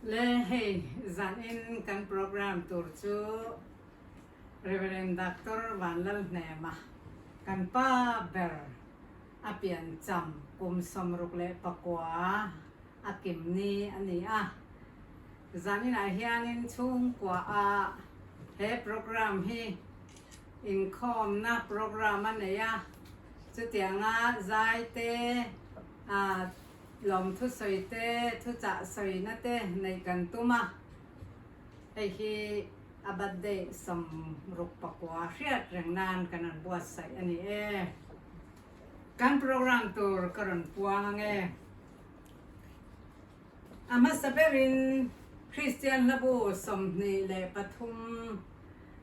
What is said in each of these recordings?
Le hei zan in kan program tur chu Rev. Doctor Vanlal Hnema kan pa ber a pian cham kum sawm ruk leh pakua a kim ni a ni a. Zan inah hian in chhungkua ah he program hi Inkhawmna program a nei a, chutianga zaite, lawmthusawite, thuchahsawina te neih kan tum a, hei hi a birthday sawm ruk pakua hriat reng nan kan rawn buatsaih a ni e. Kan program tur ka rawn puang ang e. A hmasa berin, Kristian hlabu sawmhnih leh pathum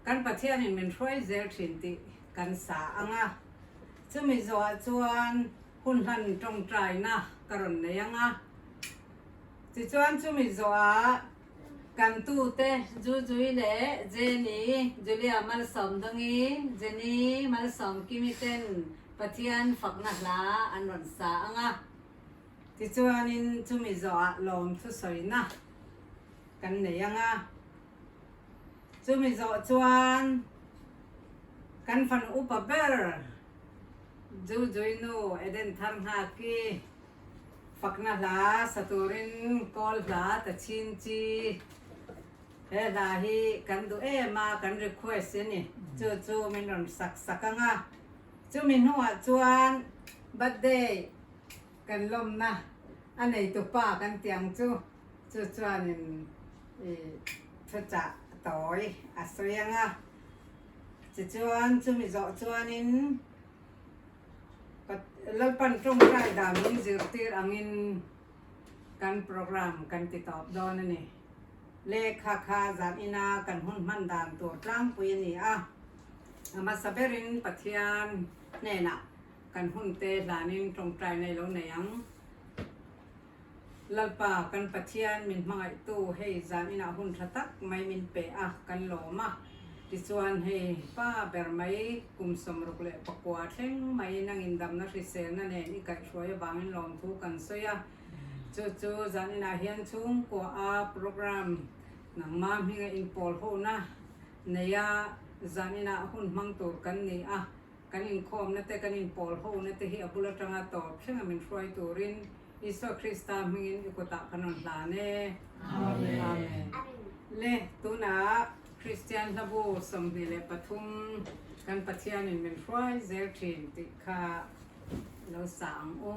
kan Pathianin min hruai zel thin tih kan sa ang a. Chumi zawhah chuan hun hlan tawngtaina ka rawn nei ang a. Tichuan chumi zawhah kan tute Zuzui leh Jenny, Julia Malsawm Dongi, Jenny Malsawm Kimi ten Pathian fakna hla an rawn sa ang a. Tichuanin chumi zawhah lawm thusawina kan nei anga, chumi zawh chuan kan fan upa ber Zuzuinu Eden Tharnghakkhi fakna hla sa turin kawl hla ta chin chi, he hla hi kan duh em a kan request i ni, chu chu min rawn sak sak anga, chumi hnungah chuan birthday. kan lawmna a neitu pa kan tih ang chu, chu chuanin i thuchah tawi a sawi ang a. Tichuan chumi zawh chuanin Lalpan tawngtai danin zirtir angin kan programme kan ti tawp dawn a ni. Lehkha kha zan ina kan hun hman dan tur tlangpui a ni a, a hmasa berin Pathian hnenah. Kan hun te hlanin tawngtaina i lo nei ang. Lalpa kan Pathian min hmangaihtu hei zan inah hun tha tak mai min pe a, kan lawm a. Tichuan hei pa ber mai kum sawmruk leh pakua thleng mai nang indamna hriselna nen i kaihhruai avangin lawm thu kan sawi a. Chu chu zan inah hian chhungkuaha programme nangma hminga inpawlhona neia zan inah hun hmang tur kan ni a. kan inkhawmna te kan inpawl hona te hi a bul atanga tawp thleng a min hruai turin Isua Krista hmingin i kutah ka nawn hlan e. Amen. Le, tunah Kristian hlabu sawmhnih leh pathum kan Pathianin min hruai zel thin tih kha lo sa ang u.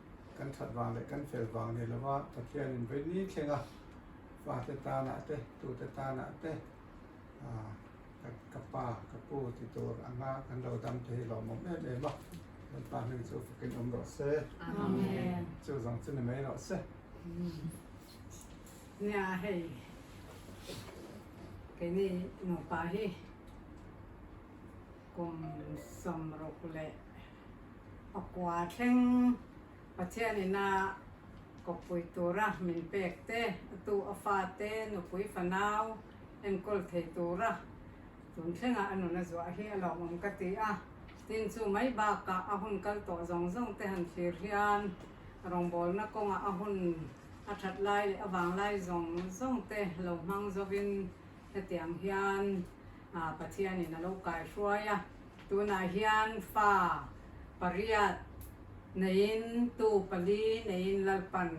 Kan that vang leh kan fel vang nei lova Pathianin vei ni thleng a, fate tanah te, tute tanah te, ka pa, ka pu ti tur a nga kan lo dam te hi hlawhmawm em em a. Kan pa hming chu fakin awm rawh se. Amen. Chu zawng chu ni mai rawh se. Nia hei keini nupa hi. Kum sawmruk leh pakua thleng Pathian ina kawppui tura min pek te, atu a fate nupui fanau enkawl thei tura tun thlengah a nuna zuah hi a lawmawm ka ti a, tin chu mai bakah a hun kal tawh zawng zawng te han thlir hian rawngbawlna kawngah a hun a that lai leh a vang lai zawng zawng te lo hmang zovin hetiang hian a Pathianin a lo kaihruai a, tunah hian fa pariat neiin tu pali neiin Lalpan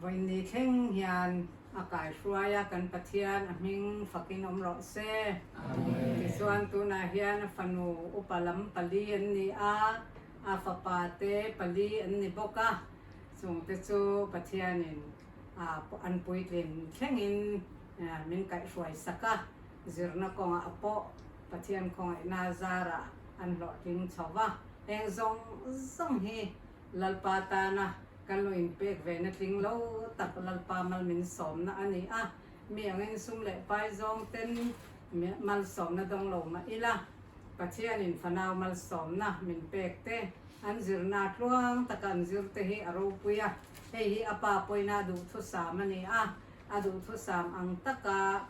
vawi ni thleng hian a kaihruai a, kan Pathian a hming fakin awm rawh se. Amen. Tichuan tunah hian a fanu upa lam pali an ni a, a fapa te pali an ni bawk a, chungte chu Pathianin a an puitlin thlengin min kaihruai sak a. Zirna kawngah pawh Pathian khawngaihna zara an hlawhtling chho va, heng zawng zawng hi Lalpa tana kan lo inpek ve natling lo tak Lalpa malmin sawmna a ni a, mi angin sum leh pai zawngten malsawmna dawng lo mah ila, Pathianin fanau malsawmna min pek te, an zirna tluang taka an zirte hi a ropui a, hei hi a pa pawina duhthusam a ni a, A duhthusam ang taka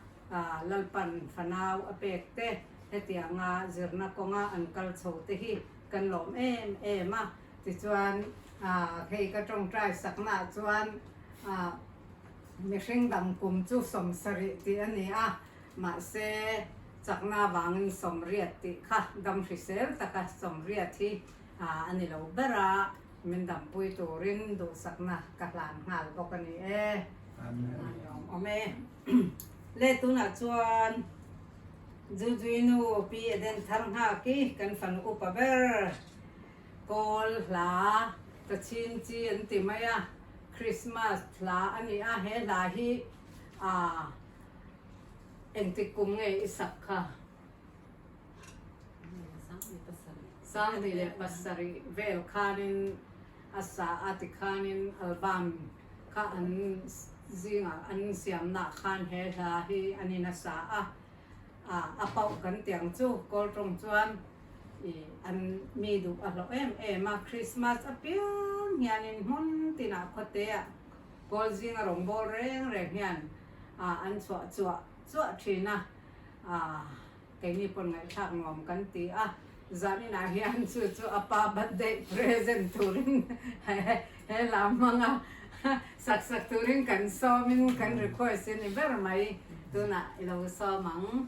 Lalpan fanau a pek te, hetianga zirna kawnga an kal chho te hi kan lawm em em a. Tichuan hei ka tawngtai saknaah chuan mihring dang kum chu sawmsarih tih a ni a, mahse chakna vangin sawmriat tih kha damhrisel taka sawmriat hi. a a ni lo ber a, min dampui turin duhsakna ka hlan nghal bawk a ni e. Amen. Ni awm awm e. Le tunah chuan Zuzuinu Pi Eden Thar Nghak i kan fan upa ber. Kawl hla Tachin chi an ti mai a, Christmas hla a ni a, he hla hi a engtik kum ngei i sak kha. Sangli leh pasarih vel khanin a sa a tikhanin album kha an zingah an siamna khan he hla hi an in a sa a. A poh kan tiang chu Kawl tawng chuan an mi duh a hlawh em em a. Krismas apiang hianin hmun tinah khawteah Kawl zinga rawngbâwl reng reng hian an chhuah chuah chuah ṭhin a. Aah, keini paw'n ngaihthlak nuam kan ti a, zaninah hian chu chu a pa birthday present turin he lam hmanga sak sak turin kan sawmin kan request hi ni ber mai, tunah i lo sawm ang.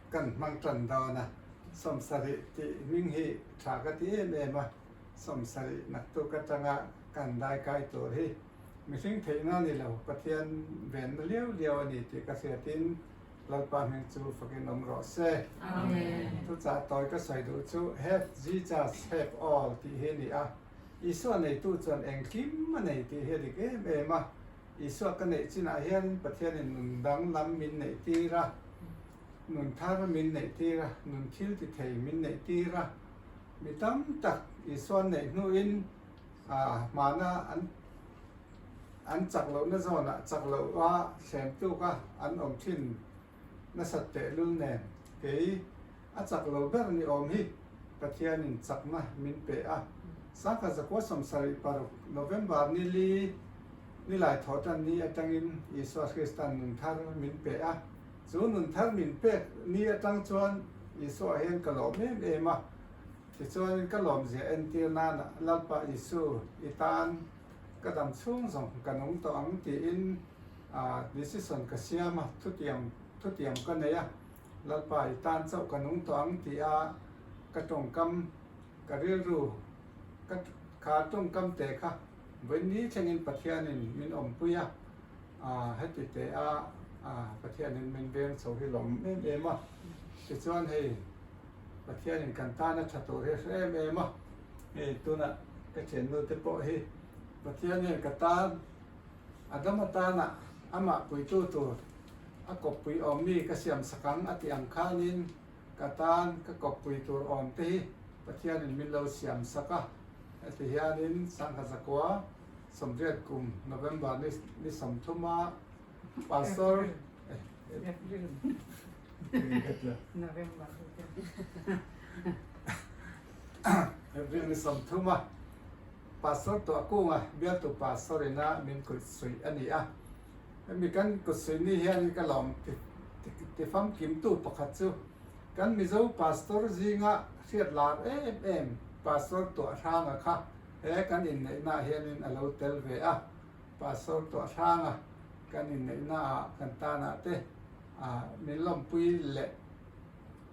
Kan hmang tan dawn a, sawmsarih tih hming hi tha ka ti em em a, sawmsarih naktuk atanga kan daikai tur hi mihring theihna a ni lo, Pathian venna liau liau a ni tih ka hriatin Lalpa hming chu fakin awm rawh se. Amen. Chuchah tawi ka sawi duh chu Have Jesus have all tih hi a ni a, Isua neitu chuan engkim a nei tih hi a dik em em a. Isua ka neih chinah hian Pathianin nun dang lam min neih tir a, nun thar min neih tir a, nun thil ti thei min neih tir a. Mi tam tak Isua an neih hnuin aah hmana an an chak lohna zawnah chak loh a, thlen tuk a an awm thin. nasat pehlul nen kei a chak lo ber ni awm hi Pathianin chakna min pe a, Sangha Zakua Sawmsarih paruk November nili nilai thawhtan ni atangin Isua Hrista'n nun thar min pe a, chu nun thar min pek ni atang chuan Isua hian ka lawm em em a, tichuanin ka lawmzia entir nana Lalpa Isu i tan ka dam chhung zawng ka nung tawh ang tiin Decision ka siam a, thutiam thutiam ka nei a, Lalpa i tan chauh ka nung tawh ang ti a, ka tawngkam ka rilru ka ka tawngkam teh kha vawiinni thlengin Pathianin min awmpui a, heti teh a, Pathianin min veng chho hi lawm em em a, tichuan hei Pathianin kan tana tha tur hi hre em em a, hei tunah ka thiannu te pawh hi Pathian hian ka tan. A dam atana amah puitu tur a kawppui awm mi ka siam sak ang a tih ang khanin ka tan ka kawppui tur awm te hi Pathianin min lo siam sak a. Heti hianin Sangha Zakua Sawmriat kum November ni sawmthuma Pastor April ni sawmthuma. Pastor tawh kung a bialtu pa Sorin a min kut suih a ni a, hemi kan kut suih ni hian in ka lawm ti famkim tu pakhat chu kan Mizo Pastor zing a hriat lar em em Pastor tawh hrang a kha he kan inneih na ah hian in a lo tel ve a, Pastor tawh hrang a kan inneih na ah kan tan ah te min lawmpui leh.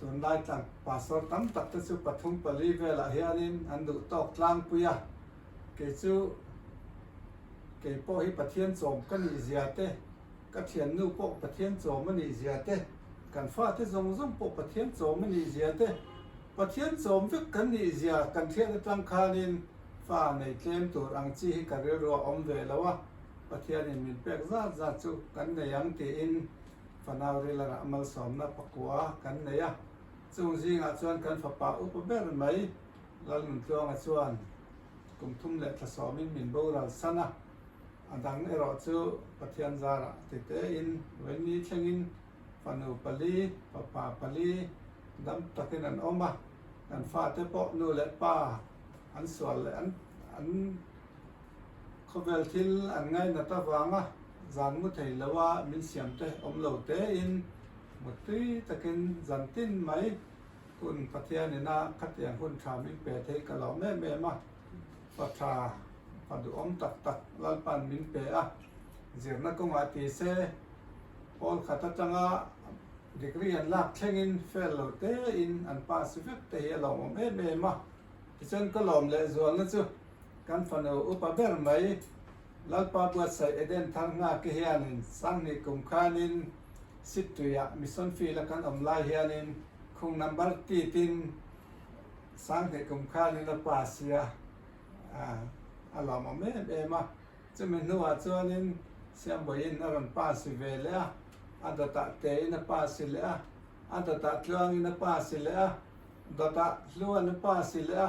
tunlai tlang pastor tam tak te chu pathum pali velah hianin an duh tawk tlangpui a, kei chu kei pawh hi Pathian chawm ka nih zia te, ka thiannu pawh Pathian chawm a nih zia te, kan fate zawng zawng pawh Pathian chawm a nih zia te, Pathian chawm vek kan nih zia kan hriat atang khanin fa nei tlem tur ang chi hi ka rilru a awm ve lo a, Pathianin min pek zat zat chu kan nei ang tiin, Fanau Rilarah malsawmna pakua kan nei a, chung zingah chuan kan fapa upa ber mai Lalnuntluanga chuan kum thum leh thla sawmin min boral san a, a dang erawh chu Pathian zarah titein vaini thlengin fanu pali, fapa pali dam takin an awm a, kan fate pawh nu leh pa an sual leh an. Khawvel thil an ngaih nat avanga zan mu thei loha min siamte awm lo tein mut tui takin zan tin mai kun Pathian ina khatiang hun tha min pe thei ka lo em em a. Pa tha, pa duhawm tak tak Lalpa'n min pe a. Zirna kawngah ti se hawlkhat atanga degree an lak thlengin fail lo tein an pass vek te hi a lo awm em em a. Tichuan ka lawm leh zualna chu. Kan fanu upa ber mai Lalpa Buatsaih Eden Tharngake hianin sanghnih kum khanin Sittuiah Mission Field a kan awm lai hianin khung number titin sanghnih kum khanin a pass-i a, a lawmawm em em a. Chumi hnuah chuanin Siambuaiin a rawn pass-i ve leh a, a dawtah tein a pass-i leh a, a dawtah tluangin a pass-i leh a, dawtah hluan a pass-i leh a.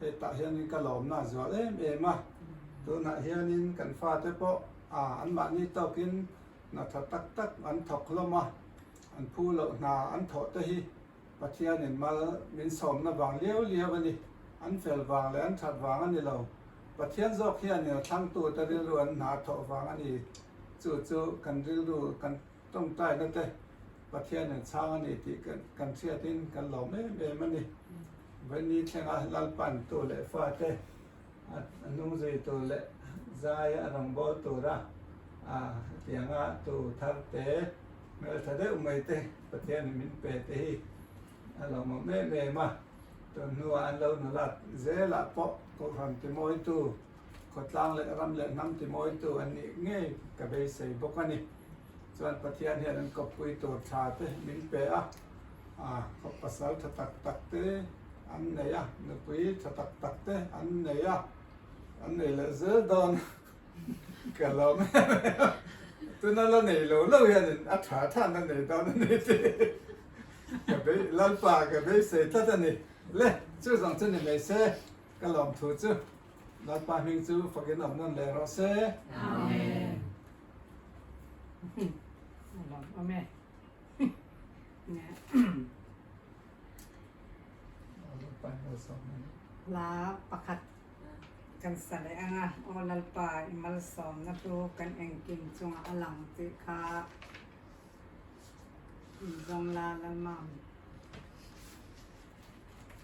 Hei tah hianin ka lawmna zual em em a, tunah hianin kan fate pawh anmahni tawkin natha tak tak an thawk hlawm a, an phu loh hna an thawh te hi Pathianin mal min sawmna vang liau liau a ni, an fel vang leh an that vang a ni lo, Pathian zawk hianin a thlangtute rilru an hna thawh vang a ni, chu chu kan rilru kan. Tawngtaina te, Pathian in chhang a ni tih kan chhiat in kan lawm em em a ni. Vaini thlenga lalpan tu leh fa te, a hnung zui tur leh zai a rawngbâwl tura a tianga tu thar te, hmeltha deuh mai te Pathian in min pe te hi a lawmawm em em a. Tunhnua an lo nula zêlah pawh, Kohhran Timawitu Khawtlang leh ram leh hnam timawitu an nih ngei ka beisei bawk a ni. Chuan Pathian hian an kawppui tur tha te min pe a, khaw pasal tha tak tak te an nei a, nupui tha tak tak te an nei a, an nei leh zel dawn ka lawm em em a, tuna la nei lo lo hianin a tha tha na nei dawn a ni tih ka bei, Lalpa ka beisei tlat a ni. Le, chuzawng chu ni mai se. ka lawm thu chu Lalpa hming chu fakin awm nawn leh rawh se. Amen. Lawm awm e. La pakhat kan sa leh anga aw Lalpa i malsawmna chu kan engkim chunga a lang tih kha in zawng la Lalmam.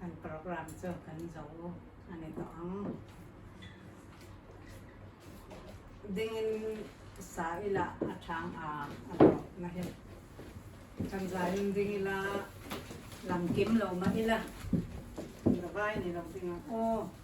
Kan programme chu kan zo a ni tawh ang. Dingin sa ila a chang a, a dawtna hi. Kan zanin ding ila lam kim lo mah ila, Davai ni lo ding ang aw.